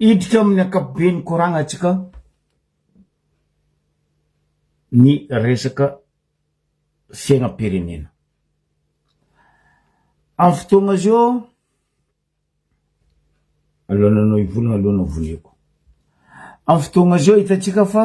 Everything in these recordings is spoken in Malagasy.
Hiditra amin'ny ankapoben'ny koragnantsika ny resaka fiainam-pirenena. Amin'ny fotoagna zao, alohan'ny anao hivolagna aloha no voleako. Amin'ny fotoagna zao hitantsika fa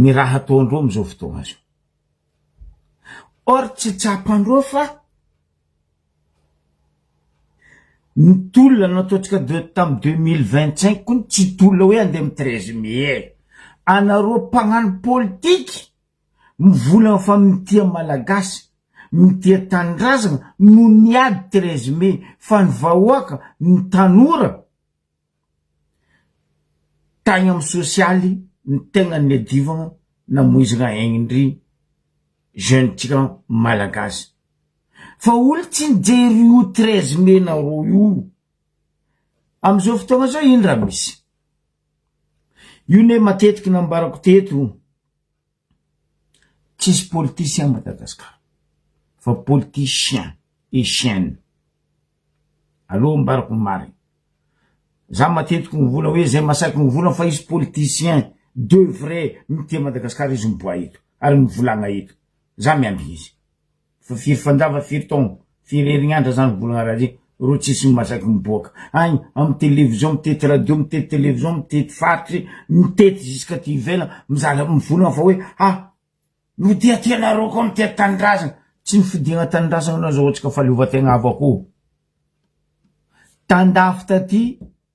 ny raha ataon-dreo amin'izao fotoana izao. Or tsy tsapan-dreo fa ny tolona nataontsika de tamin'ny deux mille vingt cinq koa tsy tolona hoe andeha amin'ny treize mai e! Anareo mpagnano politika mivola fa mitia Malagasy, mitia tanindrazana no niady treize mai fa ny vahoaka, ny tanora, Tagny am sosialy ny tegna niadivagna namoizagna aigny ndry jeune ntsika malagasy fa olo tsy nijery io treize mai nareo io amizao fotoagna zao ino raha misy io ne matetiky nambarako teto. Tsisy politiciens à Madagascar fa politiciens et chiens aleo ambarako ny marina za matetiky mivola hoe zay masaky mivola fa izy politiciens de vrai mitia Madagascar izy miboaha eto ary mivolagna eto za miambina izy. Fa firy fanjava firy taogno firy herignandra zany volagna raha zay ro tsisy masaky miboaka agny amy télévision mitety radio mitety télévision mitety faritry mitety jusque aty ivelagny mizara mivolagna fa hoe ha mitia-tia nareo koa mitia tanindrazagna tsy nifidiagna tanindrazagna nareo azahoantsika fahaleovan-tegna avakoo tandafy taty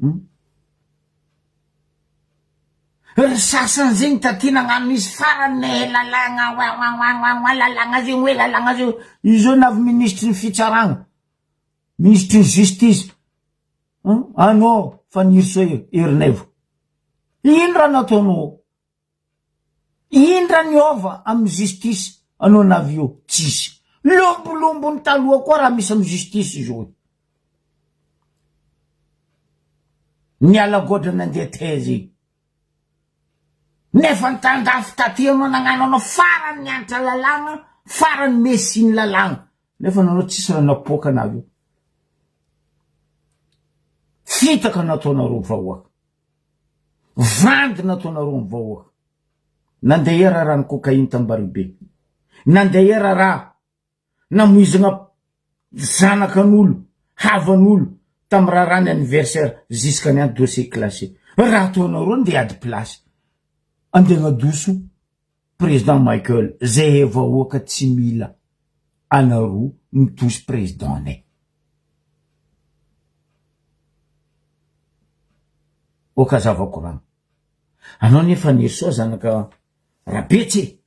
Hum. Ry sasany zegny da ty nagnano izy farany ne he lalagna oaoaoaoaoa lalagna zegny oe lalagna zegny oe io zao na avy ministry ny fitsaragna ministry ny justice hum anao Fanirisoa Ernaivo ino raha nataonao Indra ny ova amin'ny justice anao navio tsisy lombolombo ny taloha koa raha misy amin'ny justice izy oe ny ala goatra nandeha taiza iny nefa ny tandafy taty anao nagnano anao farany ny antra lalàgna farany messi ny lalàgna nefa nanao tsisy raha napoaka anareo fitaka nataonareo vahoaka. Vandy nataonareo ny vahoaka. Nandeha era raha ny cocaïne tany Baribe. Nandeha era raha namoizana zanakan'olo, havan'olo tam raharaha ny anniversaire jusqu'à ny an dossier classé. Raha ataonareo ndeha ady place. Andeha agnadoso Président Michael zehe vahoaka tsy mila anarou mitosy président ne. Ok aza vakorano. Anao anie Fanirisoa zanaka Rabetsy e!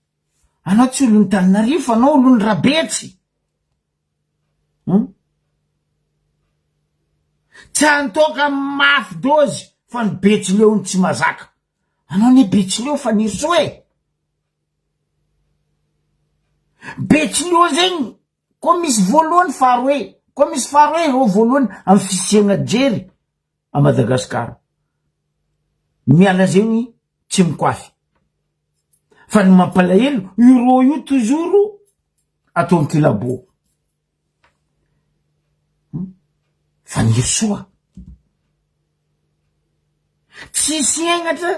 Anao tsy olon'i Taninarivo fa anao olon'i Rabetsy! Hum. Tsy antoka mafy dozy fa ny Betsileo no tsy mazaka. Anao anie betsileo Fanirisoa e! Betsileo zegny koa misy voalohany faharoe, koa misy faharoe reo voalohany amin'ny fisiana jery à Madagascar. Miala zegny tsy mikoafy. Fa ny mampalahelo io reo io toujours atao an-kilabô. Fanirisoa, tsisy henatra,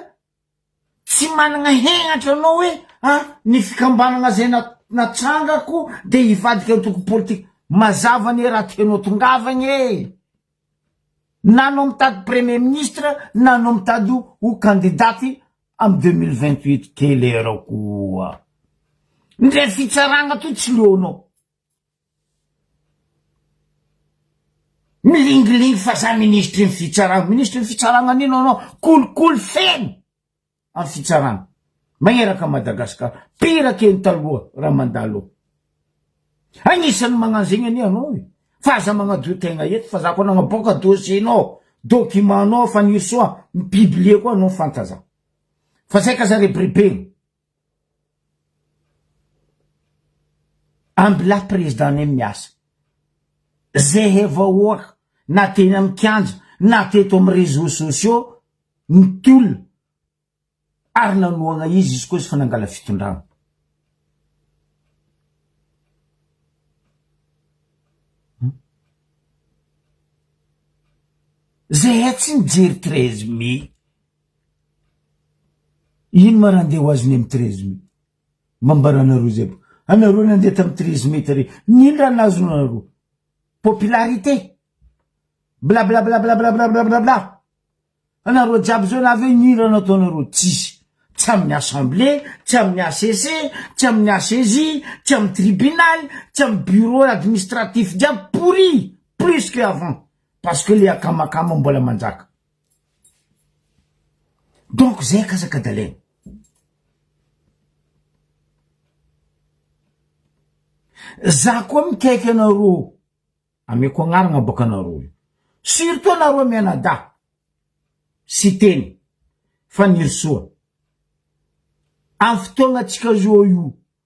tsy managna henatra anao hoe ah ny fikambanagna zay natrangako de hivadika antoko politika, mazava anie raha tianao tongavagna e, na anao mitady premier ministre na anao mitady ho kandidaty amin'ny deux mille vingt huit kely arô koa, ndray fitsaragna toa tsy leonao. Milingilingy fa za ministry ny fitsarana, ministry ny fitsarana nino anao, kolikoly feno am fitsarana, maheraka Madagascar, pire ke ny taloha raha mandalo eo, agnisany magnano zegny anie anao e, fa aza magnadio tegna eto fa za koa nagnaboaka dossier nao, document nao, Fanirisoa mi publier koa anao fanta za, fa zay ka za rebirebena. Ambilà président ne miasa ze he vahoaka na teny am kianja na teto am réseaux sociaux ny tolona ary nanohagna izy izy koa izy fa nangala fitondrana. Ze he tsy nijery treize mai. Ino ma ra andeha ho azy ny am treize mai? Mba ambaranareo zay ba anareo nandeha tam treize mai tary nino ra nazonareo? Popularité? Blablablablablablablabla anareo jiaby zao navy eo nino ra nataonareo? Tsisy, tsy aminy assemble, tsy aminy HCC, tsy aminy HCJ, tsy aminy tribunal, tsy aminy bureau administratif jiaby pourri plus que avant parce que le akamakama mbola manjaka. Donc zay akasaka dalaina. Za koa mikaiky anareo, ameko agnarana baka anareo io. Surtout anareo mianadahy, Siteny, Fanirisoa. Am fotoagna antsika zao io,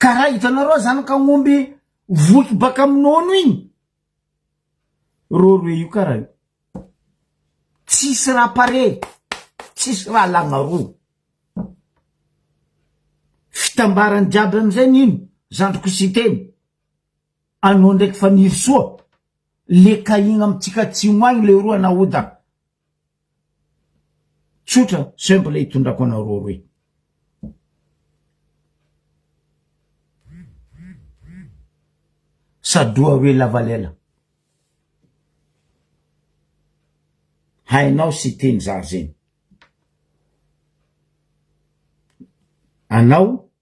Ka raha hitanareo zanak'aomby voky baka amin'ny nono iny, rôrô io kara io, tsisy raha pare, tsisy raha lagna roa, fitambarany jiaby amizay nino zandriko Siteny, anao ndraiky Fanirisoa, le kahigna amitsika atsimo agny leroa nahoda Tsotra, simple itondrako anao roaroe. Sadoha hoe lavalela. Hainao sy teny zary zegny. Anao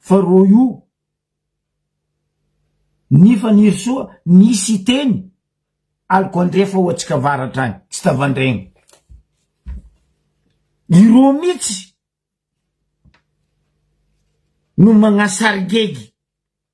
Fa roy o! Ny Fanirisoa nisy hiteny, aliko andrefa ho antsika avaratra any, tsy tavandraigna. Ireo mihitsy no magnasaringegy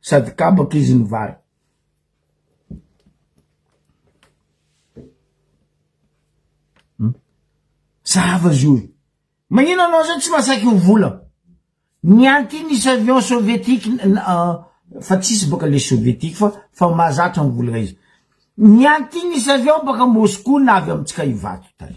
Sady kabaka izy ny vary. Hmm? Zava zio e. Magnino anao zao tsy masaky ho vola? Ny anty nisy avion sovietique euh, fa tsisy baka le sovietique fa fa mahazatra mivola izy. Ny anty nisy avion baka Moscou na avy amintsika Ivato tany.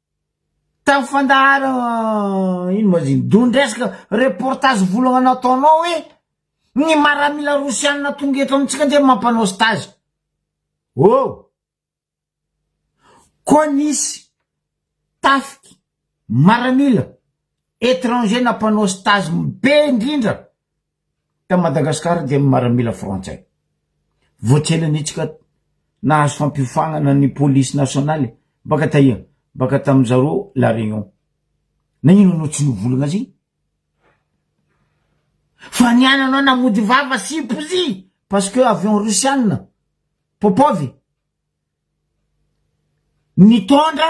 Tamin'ny fandahara ino ma ziny? Dondry resaka reportage volagna nataonao hoe ny maramila rosianina tonga eto amintsika nge mampanao stage. Oh! Koa nisy tafika maramila étranger nampanao stage be indrindra. Tao Madagasikara dia ny maramila frantsay. Voatselanitsika nahazo fampiofanana ny polisy nasionaly baka taia? Baka tamin-dry zareo La Réunion. Na inona no tsy novolagna azy? Fa ny an anao na mody vava sy pozy parce que avion rosiana, Popov, nitondra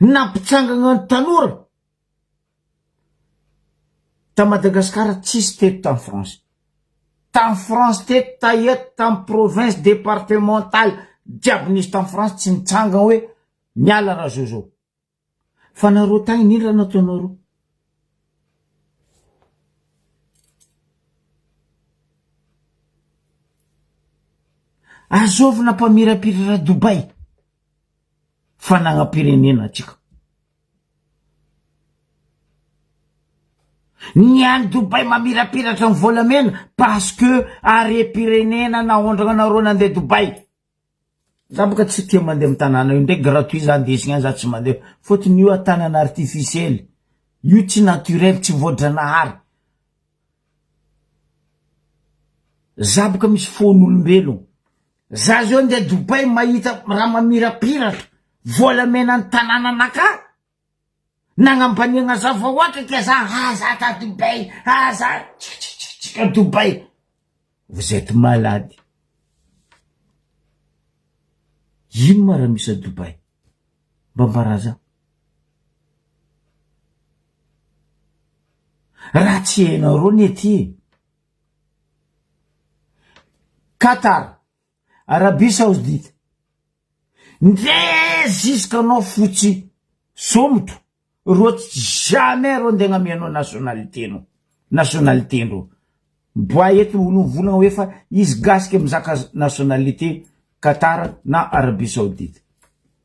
nampitsangagna ny tanora ta Madagasikara tsisy teto tam France tam France teto taia tam province departementale jiaby nisy tam France tsy nitsangagna hoe miala ra Jojo fa nareo tagny ino ra nataonareo azôvina mpamirapira ra Dubaï fanagnapirenena antsika. Ny any Dubai mamirapiratra ny volamena parce que harem-pirenena naondrana anareo nandeha Dubai. Za boka tsy tia mandeha amin'ny tanàna io ndray gratuit za ndesiny any za tsy mandeha fotony io tanana artificiel io tsy naturel tsy voadranahary. Za boka misy fon'olombelogno. Za zao ndeha Dubai mahita raha mamirapiratra vola mena ny tanàna nakà nagnambaniagna za fa ohatra ke za ha za ta Dubai ha za tsikitsikitsika Dubai vous etes malade ino ma raha misy a Dubai mba ambara za raha tsy hainareo ny aty e Qatar, Arabie Saoudite, ndre ziska anao fotsy somoto reo tsy jamais reo ndegna amy anao nationalité nao nationalité ndreo boay eto olo mivolagna hoe fa izy gasy ke mizaka nationalité Qatar na Arabie Saoudite.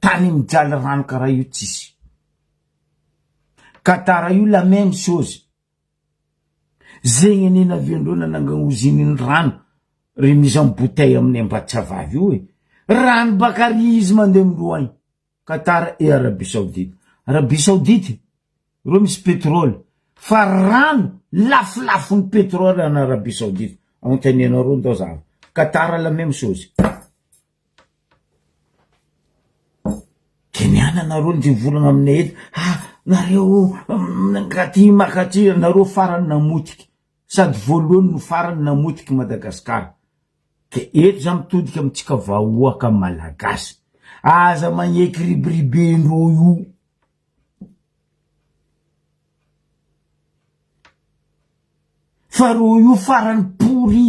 Tany mijaly rano karaha io tsisy. Ka tara io la même chose. Zegny anie naviandreo nanangana ozininy rano ry mise en bouteille aminay Ambatsahavavy io e. Rano baka ary izy mandeha miloagny. Ka tara i Arabie Saoudite. Arabie Saoudite reo misy pétrole fa rano lafolafony pétrole any Arabie Saoudite. Anontanianareo ndao za avy. Ka tara la même chose. Keniana nareo ndry volana aminay eto ha nareo ngaty makaty nareo farany namotika sady voalohany no farany namotika i Madagascar ke eto za mitodika amintsika vahoaka malagasy aza magneky ribiribendreo io fa reo io farany pourri.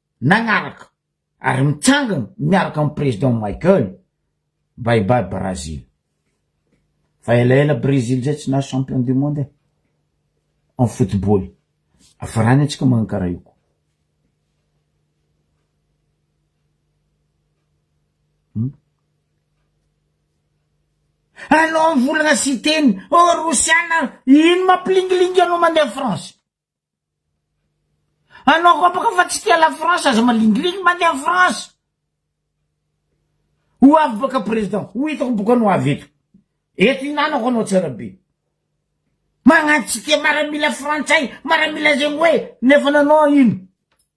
nagnaraka ary mitsangana miaraka amin'ny Président Michael bye bye Brazil fa elaela Brésil zay tsy nahazo champion du monde e en football afarany antsika magnano karaha io koa hmm? anao volagna siteny ô rosiana ino mampilingilingy anao mandeha France Anao koa baka fa tsy tia la France aza malingilingy mandeha any France. Ho avy baka président, ho hitako boka anao avy eto. Eto hinanako anao tsara be. Magnano tsy tia maramila frantsay, maramila zegny hoe nefa nanao ino?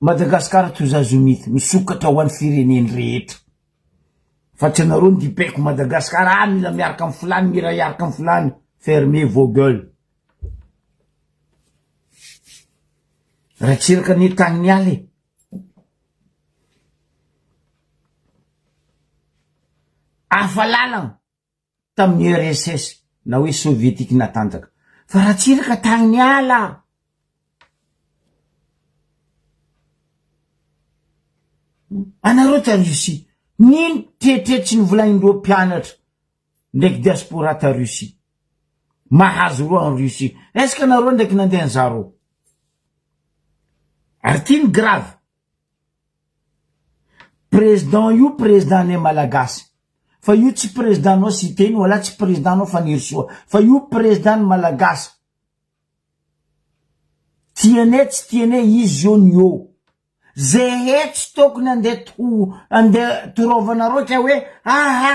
Madagascar to Zazomith misokatra ho any fireneny rehetra fa tsy anareo ndipeko Madagascar ah mila miaraka am filany miray hiaraka am filany fermez vos gueule Ratsiraka anie tany miala e hafa lalana. tamin'ny URSS na hoe Soviétique natanjaka. Fa Ratsiraka tany miala! Anareo ta Russie, nino tretre tsy nivolain'ireo mpianatra ndraiky diaspora ta Russie? Mahazo roa en Russie. Est-ce que nareo ndraiky nandeha nizara ao? Ary ty ny grave, Président io président ne Malagasy fa io tsy président nao Siteny wala tsy président nao Fanirisoa fa io président ny Malagasy tiane tsy tiane izy eo ny eo ze hetsy tokony ande to ande toraovanareo kay hoe aha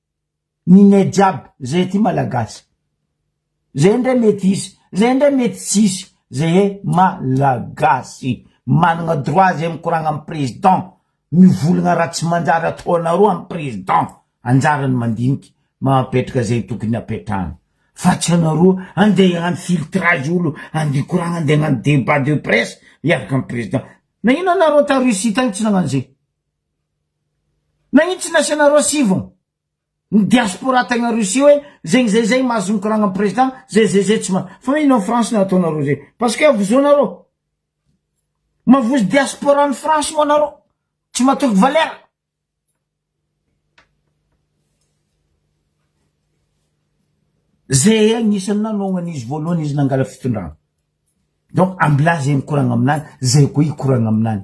ny net jiaby zay aty malagasy zay ndray mety hisy zay ndray mety tsy hisy zay e malagasy managna droit zay mikoragna am président mivolagna raha tsy manjary ataonareo am président anjarany mandinika mapetraka zay tokony apetrahany fa tsy anareo ande hagnano filtrage olo ande hikoragna ande hagnano debat de presse hiaraka am président nagnino anareo ta Russie tagny tsy nagnano zay Nanintsy nasianareo sivy ny diaspora tegna Russie hoe zegny zay zay mahazo mikoragna am président zay zay zay tsy mahazo fa hoe ino am France no ataonareo zay parce que avozoanareo mavozo diaspora any France moa nareo tsy matoky valeur zay agnisany nanaognany izy voalohany izy nangala fitondrana donc ambilà zay mikoragna aminany zay koa hikoragna aminany.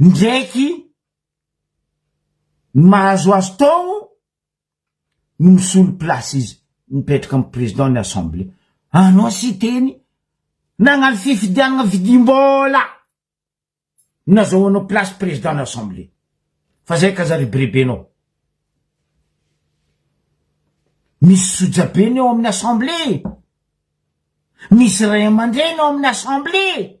Indraiky ny mahazo azy tao no misolo place izy mipetraka amin'ny président ny assemblée. Anao Siteny nagnano fifidianana vidim-bola no nazahoanao place président ny assemblée. Fa zay ka aza ribiribenao. Misy sojabe ny ao amin'ny assemblée. Misy ray aman-dreny ao amin'ny assemblée.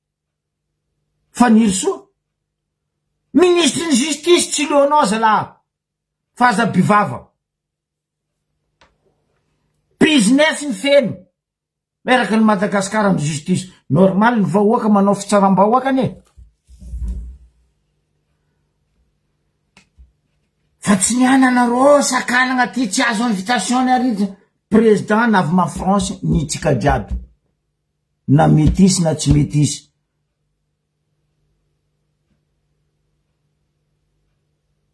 Fanirisoa, Ministry ny Justice tsy leo anao zalah fa aza bivava. Business mifeno miaraka ny Madagascar am Justice. Normal ny vahoaka manao fitsarambahoakany e. Fa tsy ny ananareo sakanagna ty tsy azo invitation-ny ary Président navy ma France ny tsika jiaby. na mety hisy na tsy mety hisy.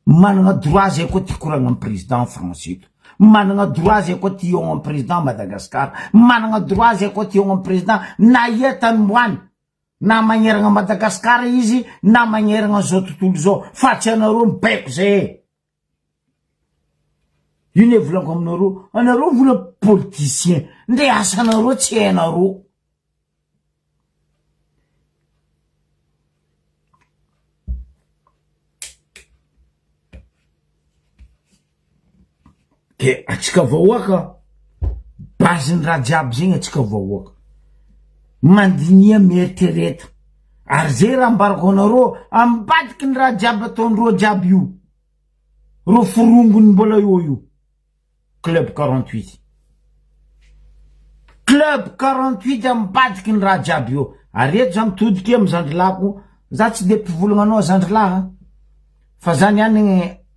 Manana droit zay koa ty koragna am président France eto, manana droit zay koa ty hiogno am président Madagascar, manana droit zay koa ty hiogno am président na ia tany omboany, na magneragna Madagascar izy na magneragna zao tontolo zao fa tsy anareo mibaiko zay e. Io le volako aminareo, anareo vola politicien, ndre asanareo tsy hainareo. De atsika vahoaka base ny raha jiaby zegny atsika vahoaka mandiniha mieritrereta ary zay raha ambarako anareo ambadiky ny raha jiaby ataondreo jiaby io reo forongony mbola eo io club quarante huit club quarante huit ambadiky ny raha jiaby eo ary eto za mitodika amy zandrilahiko za tsy de mpivolagna anao zandrilahy fa za niany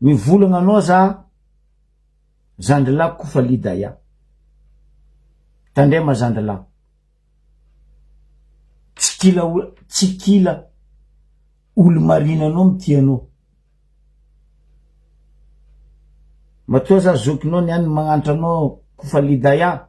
Mivolagna anao za zandrilahy Kofali Daya. Tandrema zandrilahy. Tsy kila o- tsy kila olo marina anao mitia anao. Matoa za zokinao niany magnantra anao Kofali Daya.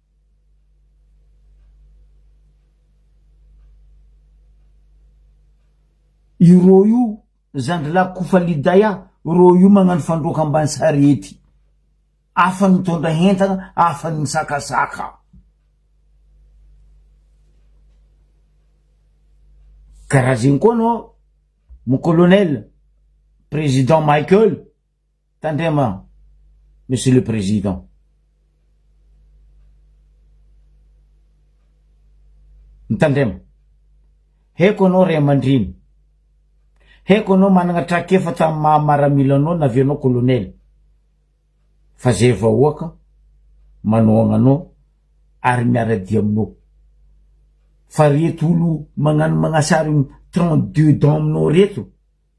Io rô io zandry lahy kofa liday a rô io magnano fandroaka ambany sarety afany mitondra hentana afany misakasaka karaha zegny koa anao mon colonel président Michael Tandrema Monsieur le Président. Mitandrema. Haiko anao ray aman-dreny. Haiko anao managna trakefa tamin'ny maha maramila anao na avianao colonel. Fa zay vahoaka manohagna anao ary miara-dia aminao. Fa reto olo magnano magnasarin 32 dents aminao reto,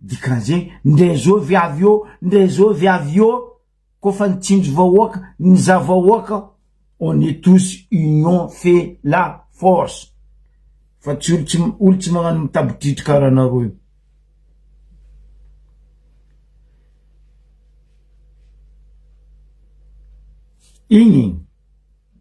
Dikan'izay, ndray zao viavy eo, ndray zao viavy eo, ko fa ny tsinjo vahoaka, ny za vahoaka, on est tous union fait la force fa tsy olo olo tsy magnano mitabitritry karaha anareo io. Igny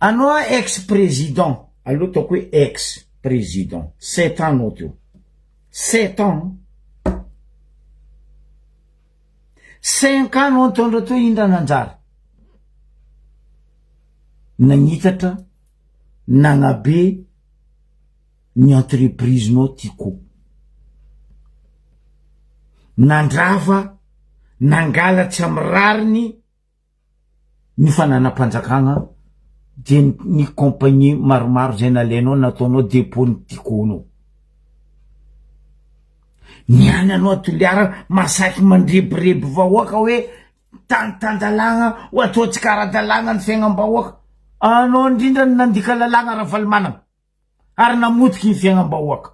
Anao a ex président alou ataoko hoe ex président sept ans anao teo sept ans an cinq ans anao nitondra teo indra nanjary nagnitatra nagnabe ny entreprise-nao ty ko. Nandrava, nangala tsy amy rariny ny fananam-panjakagna de ny compagnie maromaro zay nalainao nataonao depot-ny ty ko anao. Ny any anao a Toliara masaky mandrebireby vahoaka hoe tany tan-dalàgna ho ataontsika ara-dalàgna ny fiaignam-bahoaka, anao ndrindra no nandika lalàgna Ravalomanana. ary namotika iny fiainam-bahoaka.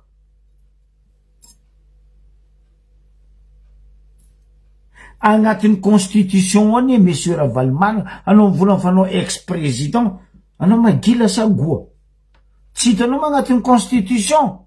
Agnatin'ny constitution anie Monsieur Ravalomanana, anao mivola fa anao ex président, anao magila sa goa? Tsy hitanao moa agnatin'ny constitution?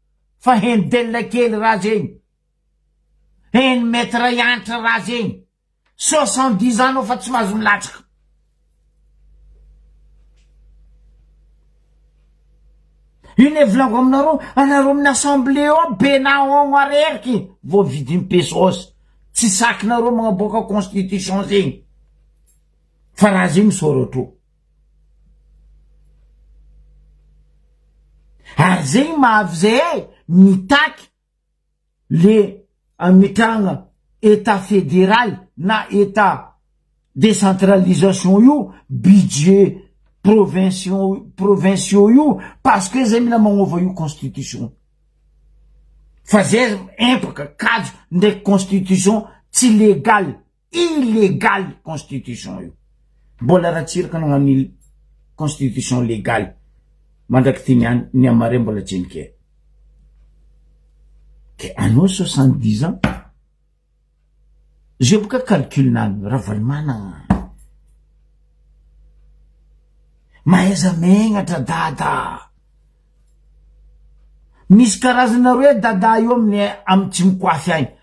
fa heno delina kely raha zegny, heno mety ray antitra raha zegny, soixante dix ans nao fa tsy mahazo milatsaka. Io ne volango aminareo, anareo amin'ny assemblée ao be na on areriky vao vidin'ny pesos, tsy sakinareo magnaboaka constitution zegny, fa raha zegny misaora trop. Ary zegny mahavy zahay mitaky le hametrahagna Etat federaly na Etat decentralisation io, budget provinciaux provinciaux io, parce que zahay mila magnova io constitution, fa zahay empaka, kajo ndraiky constitution tsy legal. Illegal constitution io. Mbola Ratsiraka nagnano ny constitution legal mandrak'ity niany, ny an'i Maria mbola tsy nikely. Ke anao soixante dix ans, zay boka calcul nany Ravalomanana. Mahaiza megnatra dada. Misy karazana roe dada io amin'ny am tsy mikoafy agny.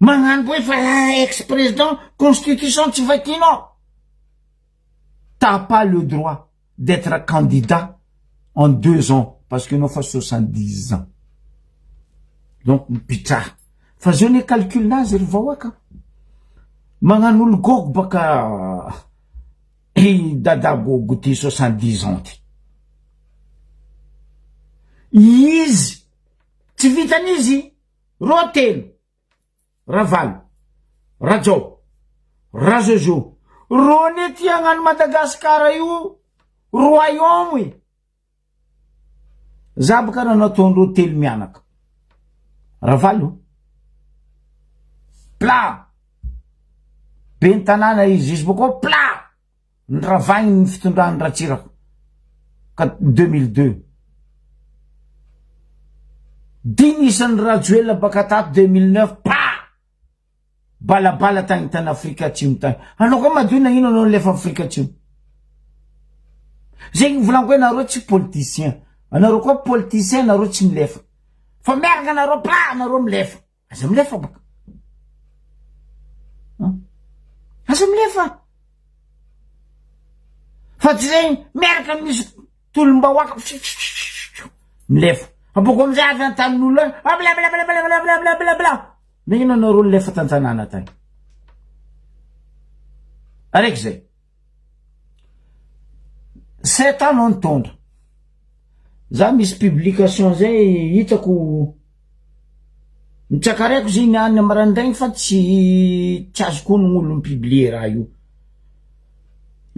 Magnano boe fa ex président constitution tsy vakinao. T'as pas le droit d'etre candidat en deux ans parce que enao fa soixante dix ans. Donc mipitraha. Fa zao ne calcul nazy ry vahoaka. Magnano olo gogo baka i dada gogo ty soixante dix ans ty. Izy tsy vitan'izy Roa telo. Ravalo. Rajao. Rajojo. Rony ety hagnano Madagascar io royaume e. Za boka ra nataondreo telo mianaka. Ravalo. Pla. Bentanana izy izy boko pla. Noravahiny ny fitondran'i Ratsiraka ka deux mille deux. Dimy isan'i Rajoelina baka tato deux mille neuf pa! Balabala tagny tany Afrika Atsimo tagny. Anao koa madio nagnino anao nilefa Afrika Atsimo? Zegny volagny koa nareo tsy politicien. Anareo koa politicien nareo tsy milefa. Fa miaraka nareo pa nareo milefa. Aza milefa baka an! Aza milefa! Fa tsy zay miaraka misy tolom-bahoaka milefa. Abôko am'zay avy an-tanin'olona any ah blablablablablablabla! Nagnino anareo nilefa tan-tanàna tany? Araiky zay. Sept ans no nitondra. Za misy publication zay hitako nitsakareko izy iny any maraindraigny fa tsy tsy azoko onogno olo mi-publier raha io.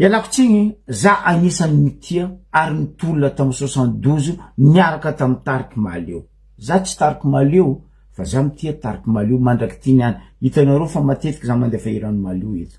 Ialako tsigny za agnisany nitia ary nitolona tam soixante douze niaraka tam Tarik'i Mahaleo, za tsy Tarik'i Mahaleo fa za mitia Tarik'i Mahaleo mandrak'ity niany, hitanareo fa matetiky za mandefa hiran'i Mahaleo eto.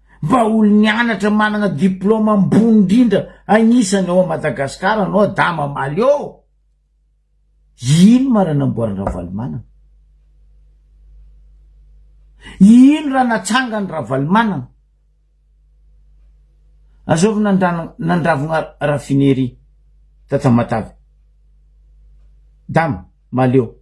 Vahaolon ny anatra manana diploma ambony indrindra anisany ao Madagascar anao adama maly ô! Ino mara namboarin Ravalomanana? Ino raha natsangan Ravalomanana? Azovy nandravogna raffinerie ta Tamatave? Dama maly ô!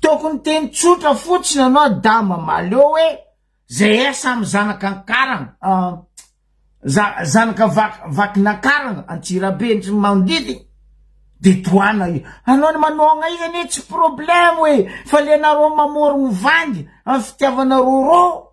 Tokony teny tsotra fotsiny anao da mamaly eo hoe zay a samy zanaka ankarana ah zanaka vaky nankarana antsirabe ndry ny manodidina de tohana io anao ny manonga io anie tsy problemo e fa le nareo mamorogno vangy am fitiavana roro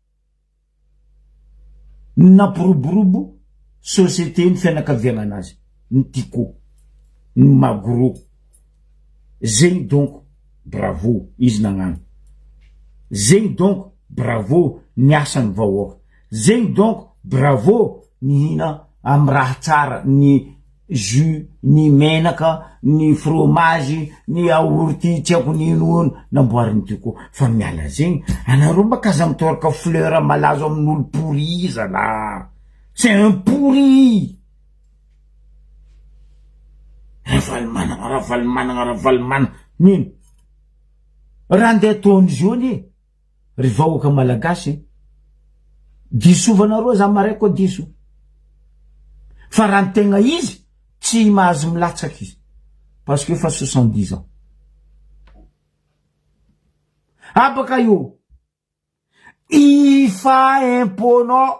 Nampiroborobo société ny fianakavianan azy ny Tiko, ny Magro, zegny donko bravo izy nagnano, zegny donko bravo ny asan'ny vahoaka, zegny donko bravo ny hina amin'ny raha tsara ny. jus, ny menaka, ny fromage, ny yaourt tsy haiko ny ino hono namboarin'i Dico fa miala zegny anareo mba k'aza mitôraka fleur malazo amin'olo pourri zalah! C'est un pourri! Ravalomanana Ravalomanana Ravalomanana nino? Raha ndeha ataon'izy eo anie. Ry vahoaka malagasy, disovanareo za marais koa diso, fa raha ny tegna izy tsy mahazo milatsaka izy parce que efa soixante dix ans. Habaka io, hifa impôt-nao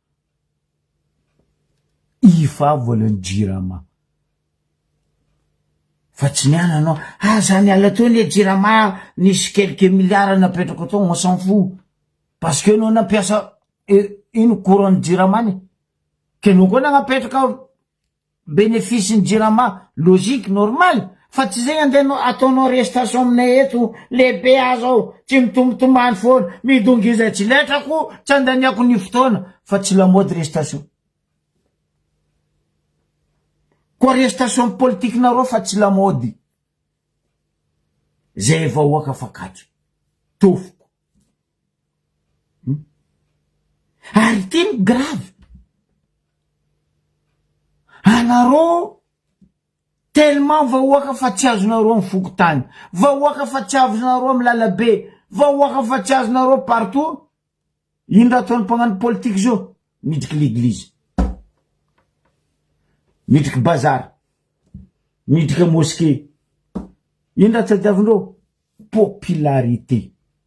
Iva volan'ny jirama. Fa tsy niala anao, aza niala teo anie jirama ah, nisy quelques milliards napetrako tao, on s'en fout, parce que enao nampiasa ino courant-ny jirama anie, ka enao koa nagnapetraka. Benefice ny jirama logique normal fa tsy zay andeha no ataonao restation aminay eto lehibe ah zao tsy mitombotombany foana midongy izay tsy letrako tsy andaniako ny fotoana fa tsy lamaody restation koa restation politique nareo fa tsy lamaody zay vahoaka fa kajo tofoka. Ary ity no grave, anareo tellement vahoaka fa tsy azonareo am fokontany, vahoaka fa tsy azonareo am lalabe, vahoaka fa tsy azonareo partout, ino raha ataony mpagnano politique zao, midriky l'église, midriky bazar, midriky mosquée, ino raha tadiavindreo, popularité.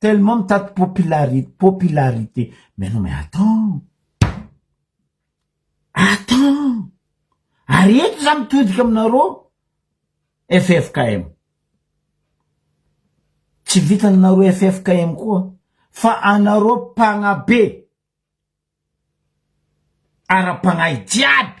Tellement mitady popularité, popularité. Mais non mais attends. Attends. Ary eto za mitodika aminareo FFKM. Tsy vitanareo FFKM koa fa anareo mpanabe ara-pagnahy jiaby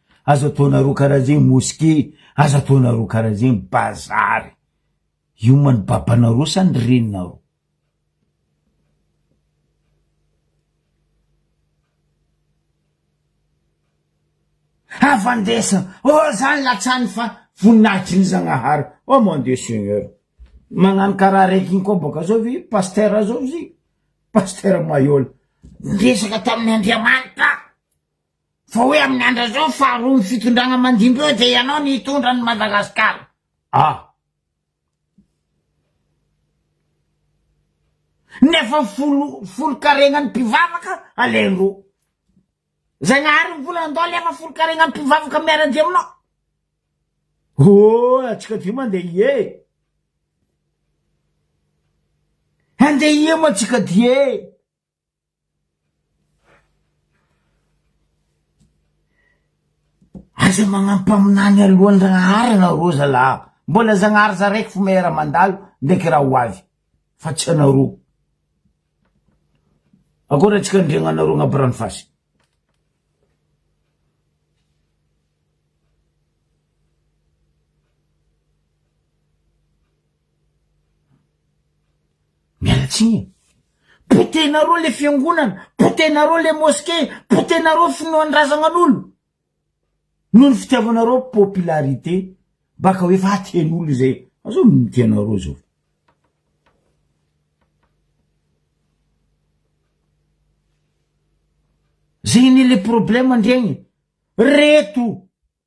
Aza ataonareo karaha zegny mosqué, aza ataonareo karaha zegny bazary. Ioma ny babanareo sa ny reninareo? Avandesana, oh zany latsany fa voninahitry ny Zagnahary, oh mon Dieu Seigneur. Magnano karaha raiky igny koa bôka zao ve pasteur zao izy igny? Pasteur Mahiôla, niresaka tamin'ny Andriamanitra. Fa hoe amin'ny andra zao faharoa ny fitondragna mandimby eo dia ianao ny hitondra an'i Madagascar a! Nefa folo folo karegnan'ny mpivavaka alendro! Zagnahary mbola andao alefa folo karegnan'ny mpivavaka miaradia aminao! Ooh antsika dimy andeha hie! Andeha hie moa antsika dieeh! Aza magnano mpaminany alohan'ny Ragnaharana rô zalah a! Mbola Zagnahary za raiky fo maire mandalo ndraiky raha ho avy fa tsy anarô. Akôry atsika andriagna anarô agnabo rano fasy. Miala tsiny e! Potehinareo le fiangonana, potehinareo le mosquée, potehinareo finoan-dRazagnanolo! Noho ny fitiavanareo popularité, baka ho efa aten'olo izay azao ny tianareo zao. Zay anie le problème ndregny, reto.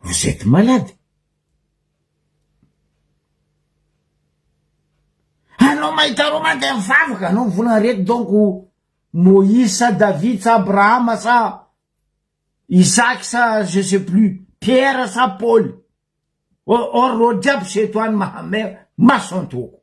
Vous etes malade. Anao mahita Roma dia mivavaka, anao ny volana reto donc Moïse sa David sa Abrahama sa Isaac sa je sais plus, Pierre sa Paul. Or, or, reo jiaby sy eto any Mahamer, mason-toko.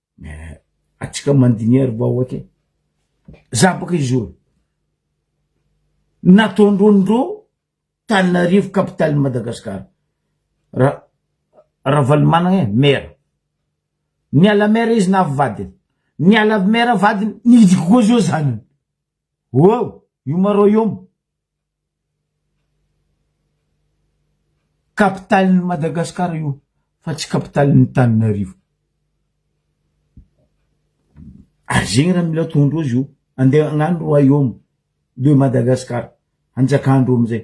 Atsika mandiniha ry vahoaka e. Za baka izoro. Nataondrondro taninarivo capitale Madagascar. Ra Ravalomanana e, mera. Niala mera izy na avy vadiny. Niala mera vadiny, nidiko koa zao zanany. Ohh! Yuma Royaume, capitale n'i Madagascar io fa tsy capitale n'i Tananarivo. Ary zegny raha mila ataondreo zio, andeha agnano Royaume de Madagascar, hanjakan-dreo amizay.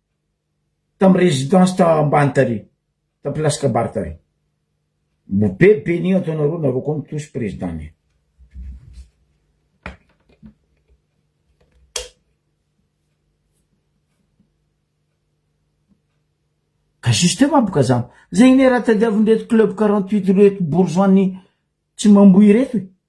tam residence tam ambany tary tam place kabary tary mbo be beni ato anareo nareo koa mitosy president ne. Ka justement boka zany zegny ne raha tadiavindreto club quarante huit reto bourgeois ny tsy mamboho ireto e.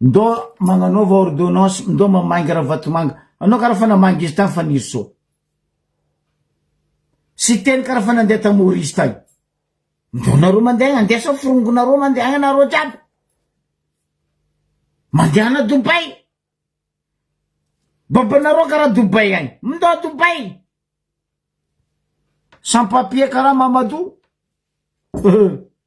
Ndao magnanaova ordonnance ndao mamainga ravatomanga anao karaha fa namainga izy tany fanirisoa siteny karaha fa nandeha ta maurice tany ndao nareo mandeha andesa forongo nareo mandeha agny nareo jiaby mandeha ana dobay babanareo karaha dobay agny ndao dobay sans papier karaha mamadou